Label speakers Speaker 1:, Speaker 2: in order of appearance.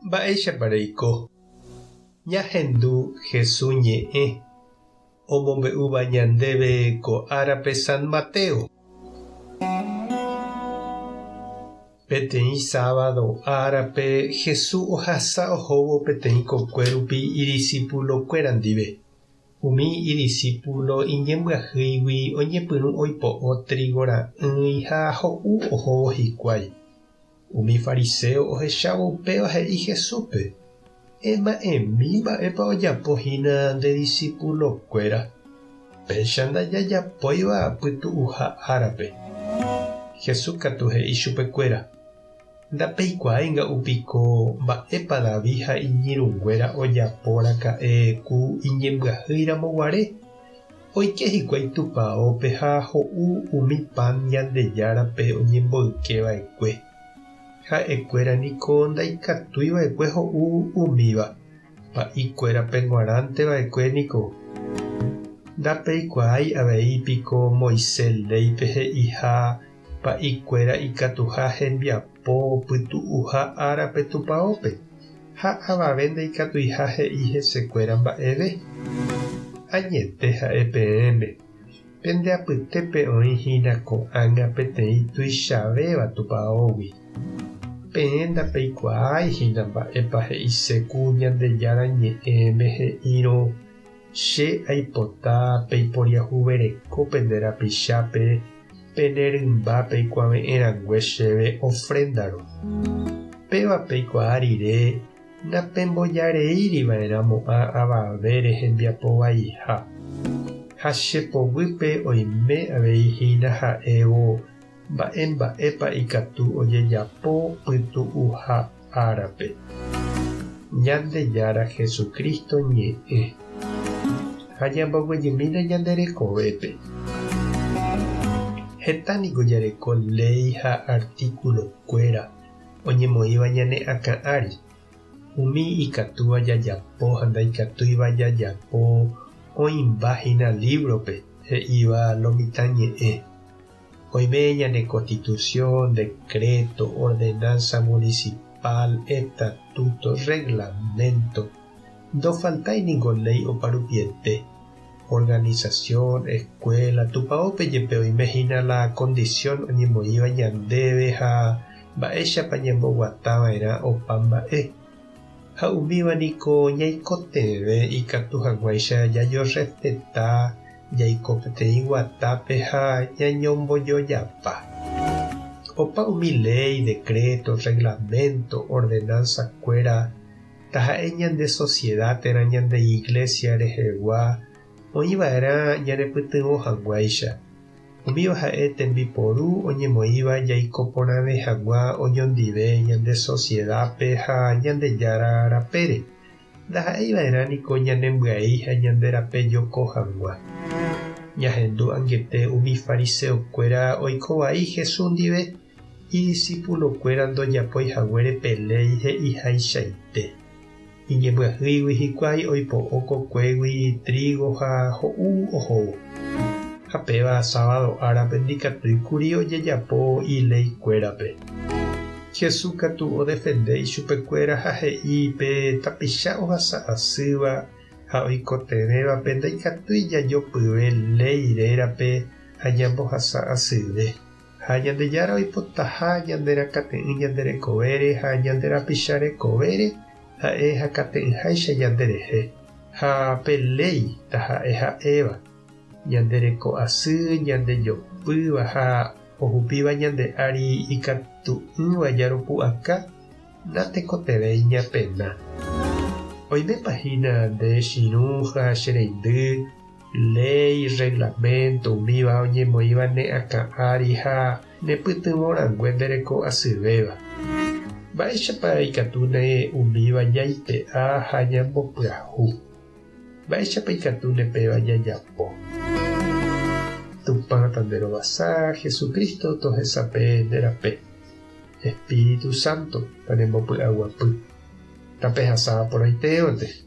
Speaker 1: Mba'éichapa reiko ñahendu Jesús ñe'ẽ omombe'úva ñandéve ko árape San Mateo? Peteĩ sábado árape Jesús ohasa ohóvo peteĩ kokuérupi idisipulokuéra ndive. Umi idisípulo iñembyahýigui oñepyrũ oipo'o trígo ra'ỹi ha ho'u ohóvo hikuái. Umi fariséo ohechávo upéva he'i Jesúspe, Ema'ẽmi mba'épa ojapo hína nde disipulokuéra, péicha ndajajapóiva pytu'uha árape. Jesús katu he'i chupekuéra, Ndapeikuaáinga upiko mba'épa David ha iñirũnguéra ojaporaka'e ku iñembyahýiramo guare? Oike hikuái tupaópe ha ho'u umi pan Ñandejárape oñemboyke va'ekue. Ha'e kuéra niko ndaikatúi va'ekue ho'u umíva, pa'i kuérape g̃uarãnte va'ekue niko. Ndapeikuaái avei piko Moisés léipe he'iha Pa'ikuéra ikatuha hembiapo pytu'uha árape tupaópe, ha avave ndaikatuiha he'i hesekuéra mba'eve. Añete ha'e peẽme, pende apytépe oĩ hína ko'ág̃a peteĩ tuichavéva tupaógui. Peẽ ndapeikuaái hína mba'épa he'ise ku Ñandejára Ñe'ẽme he'írõ, Che aipota peiporiahuvereko pende rapichápe pene rymba peikuave'ẽ rangue chéve ofréndaro. Péva peikuaa rire napembojareíri va'erã mo'ã avavére hembiapo vaiha. Ha che poguýpe oime avei hína ha'évo Mba'e mba'épa ikatu ojejapo pytu'uha árape Ñandejára Jesucristo ñe'ẽ ha ñamboguejymína ñande rekovépe? Heta niko jareko léi ha artíkulo kuéra oñemoĩva ñane akã ári, umi ikatúva jajapo ha ndaikatúiva jajapo oĩmba hína lívrope he'íva lo mitã ñe'ẽ. Oime ñane Constitución, Decreto, Ordenanza Municipal, Estatuto, Reglamento, ndofaltái ningo léi oparupiete. Organización, Escuela, Tupaópe jepe oime hína la condición oñemoĩva ñandéve ha mba'éichapa ñamboguatava'erã opa mba'e. Ha umíva niko ñaikotevẽ ikatu haguãicha ñañorrespeta jaiko peteĩ guatápe ha ñañombojojapa. Opa umi léi, dekréto, rreglaménto, ordenánsakuéra, taha'e ñande sosieda térã ñande iglésia rehegua, oĩ va'erã ñanepytyvõ hag̃uáicha. Umíva ha'e tembiporu oñemoĩva jaiko porãve hag̃ua oñondive ñande sosiedápe ha Ñandejára rapére. Ndaha'éi va'erã niko ñanembyai ha ñande rape joko hag̃ua. Ñahendu angete umi fariseo kuéra oiko vai Jesús ndive, idisipulo kuéra ndojapói haguére pe léi he'ihaichaite. Iñembyahýigui hikuái oipo'o kokuégui trígo ha ho'u ohóvo. Ha péva sábado árape ndikatúi kuri ojejapo ileikuérape. Jesús katu odefende ichupekuéra ha he'i pe tapicha ohasa asýva ha oikotevẽvape ndaikatúi jajopyve léi rérape ha ñambohasa asyve. Ha Ñandejára oipotaha ñanderakate'ỹ ñande rekovére ha ñande rapicha rekovére, ha'e hakate'ỹháicha ñande rehe. Ha pe léi taha'e ha'éva, ñande reko asy, ñande jopýva ha ohupíva ñande ári ikatu'ỹva ñaropu'aka, natekotevẽi ñapena. Oimépa hína nde chirũ ha che reindy, Léi, rreglaménto, umíva oñemoĩva ne akã ári ha ne pytyvõ rangue nde reko asyvéva. Mba'éichapa ikatu ne umíva ñaipe'a ha ñambopyahu? Mba'éichapa ikatu ne péva ñajapo? Tupã tanderovasa, Jesucristo tohesape nde rape. Espíritu Santo tanembopy'aguapy. Tapehasa porãitévante.